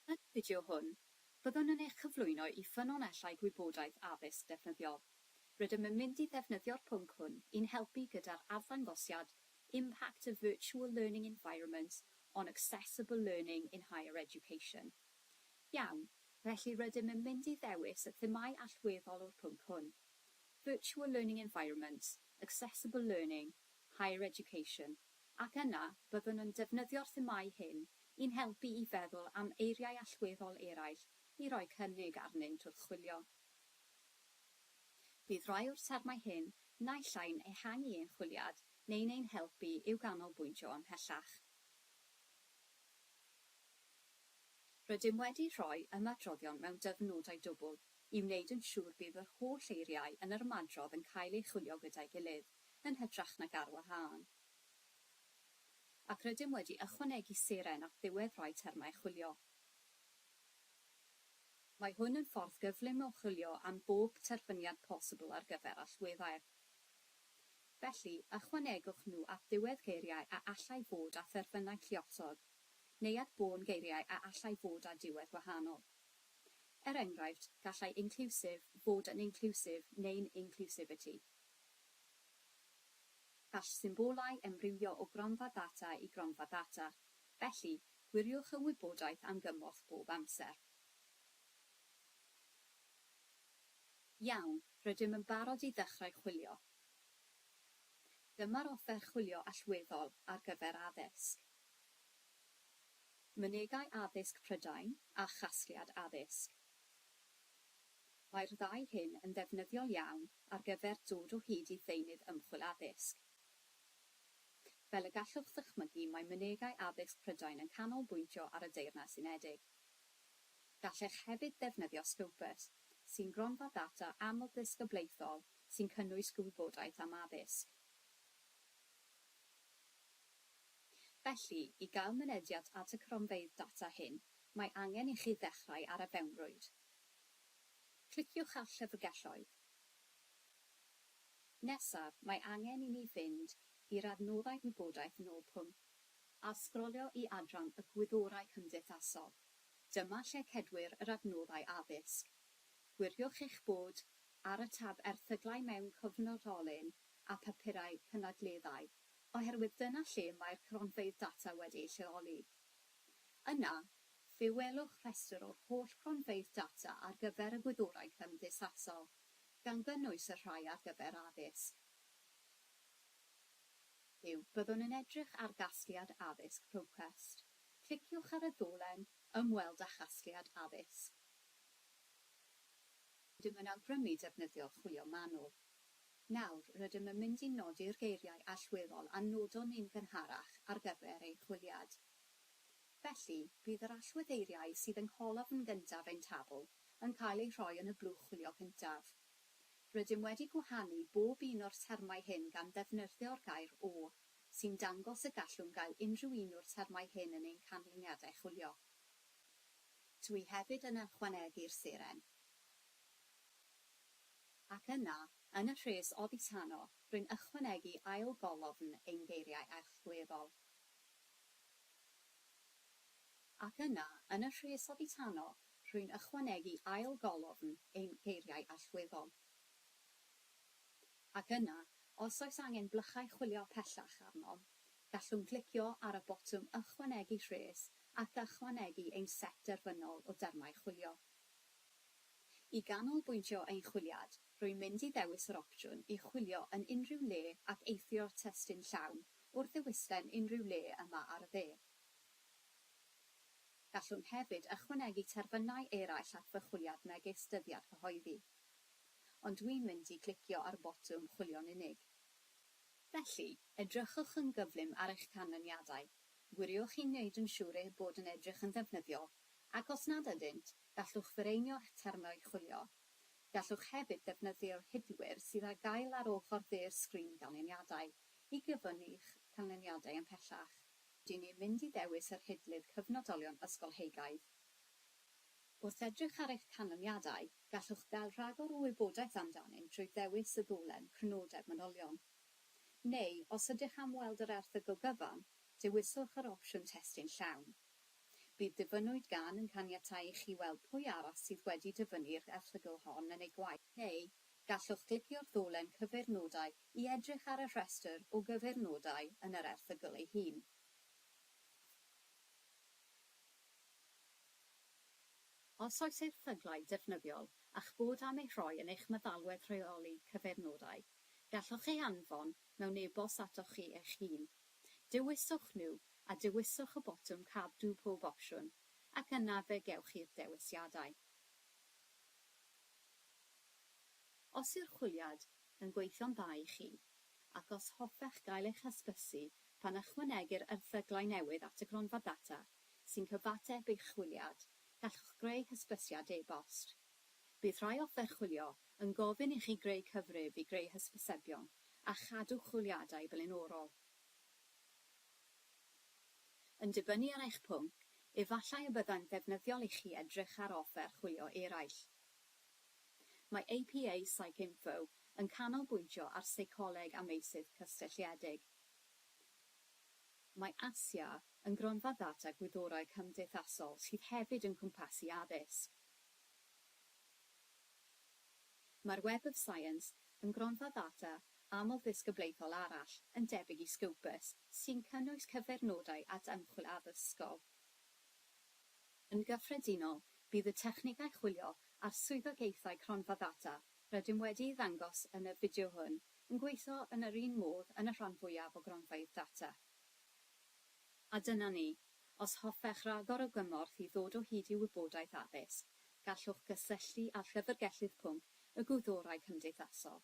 Yn y fideo hwn, byddwn yn eich cyflwyno i ffynonellau gwybodaeth addysg defnyddiol. Rydym yn mynd i ddefnyddio'r pwnc hwn i'n helpu gyda'r arddangosiad Impact of Virtual Learning Environments on Accessible Learning in Higher Education. Iawn, felly rydym yn mynd i ddewis y themâu allweddol o'r pwnc hwn, Virtual Learning Environments, Accessible Learning, Higher Education, ac yna byddwn yn defnyddio'r themâu hyn i'n helpu i feddwl am eiriau allweddol eraill i roi cynnig arnynt wrth chwilio. Bydd rhai o'r termau hyn naill ai'n ehangu ein chwiliad neu'n ein helpu i'w ganolbwyntio ymhellach. Rydym wedi rhoi ymadroddion mewn dyfn nodau dwbl, i wneud yn siŵr bydd yr holl eiriau yn yr ymadrodd yn cael eu chwilio gyda'i gilydd, yn hytrach nag ar wahân. Ac rydym wedi ychwanegu seren at ddiwedd rhai termau chwilio. Mae hwn yn ffordd gyflym o chwilio am bob terfyniad posibl ar gyfer allweddau. Felly, ychwanegwch nhw at ddiwedd geiriau a allai fod â therfynau lluosog, neu at bôn geiriau a allai fod â diwedd wahanol. Er enghraifft, gallai inclusive fod yn inclusive neu'n inclusivity. Gall symbolau emrywio o gronfa ddata i gronfa ddata, felly, gwiriwch y wybodaeth am gymorth bob amser. Iawn, rydym yn barod i ddechrau chwilio. Dyma'r offer chwilio allweddol ar gyfer addysg. Mynegai Addysg Prydain a Chasgliad Addysg Mae'r ddau hyn yn ddefnyddiol iawn ar gyfer dod o hyd i ddeunydd ymchwil addysg. Fel y gallwch ddychmygu, mae Mynegai Addysg Prydain yn canolbwyntio ar y Deyrnas Unedig. Gallech hefyd ddefnyddio Scopus, sy'n gronfa ddata amlddisgyblaethol sy'n cynnwys gwybodaeth am addysg. Felly, i gael mynediad at y cronfeydd data hyn, mae angen i chi ddechrau ar y fewnrwyd. Cliciwch ar Llyfrgelloedd. Nesaf, mae angen i ni fynd i'r adnoddau Gwybodaeth yn ôl pwnc a sgrolio i adran y Gwyddorau Cymdeithasol. Dyma lle cedwir yr adnoddau Addysg. Gwiriwch eich bod ar y tab Erthyglau mewn Cyfnodolyn a Phapurau Cynadleddau oherwydd dyna lle mae'r cronfeydd data wedi eu lleoli. Yna, fe welwch rhestr o'r holl gronfeydd data ar gyfer y gwyddorau cymdeithasol, gan gynnwys y rhai ar gyfer addysg. Yw, byddwn yn edrych ar gasgliad addysg ProQuest. Cliciwch ar y ddolen Ymweld â chasgliad addysg. Rydym yn awgrymu defnyddio chwilio manwl. Nawr, rydym yn mynd i nodi'r geiriau allweddol a nodon ni'n gynharach ar gyfer ein chwiliad. Felly, bydd yr allweddeiriau sydd yng ngholofn gyntaf ein tabl yn cael eu rhoi yn y blwch chwilio cyntaf. Rydym wedi gwahanu bob un o'r termau hyn gan ddefnyrdio'r gair o, sy'n dangos y gallwn gael unrhyw un o'r termau hyn yn ein canlyniadau chwilio. Dw i hefyd yn ychwanegu'r seren. Ac yna, yn y rhes oddi tano, rwy'n ychwanegu ail golofn ein geiriau erchgleddol. Ac yna, yn y rhes oddi tano, rwy'n ychwanegu ail golofn ein geiriau allweddol. Ac yna, os oes angen blychau chwilio pellach arnom, gallwn glicio ar y botwm Ychwanegu Rhes ac ychwanegu ein set derfynol o dermau chwilio. I ganolbwyntio ein chwiliad, rwy'n mynd i ddewis yr opsiwn i chwilio yn unrhyw le ac eithrio'r testun llawn wrth ddewislen unrhyw le yma ar y dde. Gallwn hefyd ychwanegu terfynau eraill at fy chwiliad megis dyddiad cyhoeddi. Ond dwi'n mynd i glicio ar botwm chwilio'n unig. Felly, edrychwch yn gyflym ar eich canlyniadau. Gwiriwch i wneud yn siŵr eu bod yn edrych yn ddefnyddiol Ac os nad ydynt, gallwch fireinio'ch termau chwilio. Gallwch hefyd ddefnyddio hidlwyr sydd ar gael ar ochr dde'r sgrin ganlyniadau i gyfyngu'ch canlyniadau ymhellach. Dŷn ni'n mynd i ddewis yr hidlydd cyfnodolion ysgolheigaidd. Wrth edrych ar eich canlyniadau, gallwch gael rhagor o wybodaeth amdanynt drwy ddewis y ddolen Crynodeb Manylion. Neu, os ydych am weld yr erthygl gyfan, dewiswch yr opsiwn Testun Llawn. Bydd Dyfynnwyd Gan yn caniatáu i chi weld pwy arall sydd wedi dyfynnu'r erthygl hon yn ei gwaith. Neu, gallwch glicio'r ddolen Cyfeirnodau i edrych ar y rhestr o gyfeirnodau yn yr erthygl ei hun. Os oes erthyglau defnyddiol a'ch bod am eu rhoi yn eich meddalwedd rheoli cyfeirnodau, gallwch eu hanfon mewn e-bost atoch chi eich hun dewiswch New a dewiswch y botwm Cadw pob opsiwn ac yna fe gewch chi'r dewisiadau. Os yw'r chwiliad yn gweithio'n dda i chi, ac os hoffech gael eich hysbysu pan ychwanegir erthyglau newydd at y Gronfa Data sy'n cyfateb eich chwiliad, gallwch greu hysbysiad e-bost. Bydd rhai offer chwilio yn gofyn i chi greu cyfrif i greu hysbysebion a chadw chwiliadau blaenorol. Yn dibynnu ar eich pwnc, efallai y byddai'n ddefnyddiol i chi edrych ar offer chwilio eraill. Mae APA PsycInfo yn canolbwyntio ar seicoleg a meysydd cysylltiedig. Mae ASIA yn gronfa ddata gwyddorau cymdeithasol sydd hefyd yn cwmpasu addysg, Mae'r Web of Science yn gronfa ddata amlddisgyblaethol arall yn debyg i Scopus sy'n cynnwys cyfeirnodau at ymchwil addysgol. Yn gyffredinol, bydd y technegau chwilio a'r swyddogaethau cronfa ddata rydym wedi'u ddangos yn y fideo hwn yn gweithio yn yr un modd yn y rhan fwyaf o gronfeydd data. A dyna ni. Os hoffech ragor o gymorth i ddod o hyd i wybodaeth addysg, gallwch gysylltu â Llyfrgellydd Pwnc y Gwyddorau Cymdeithasol.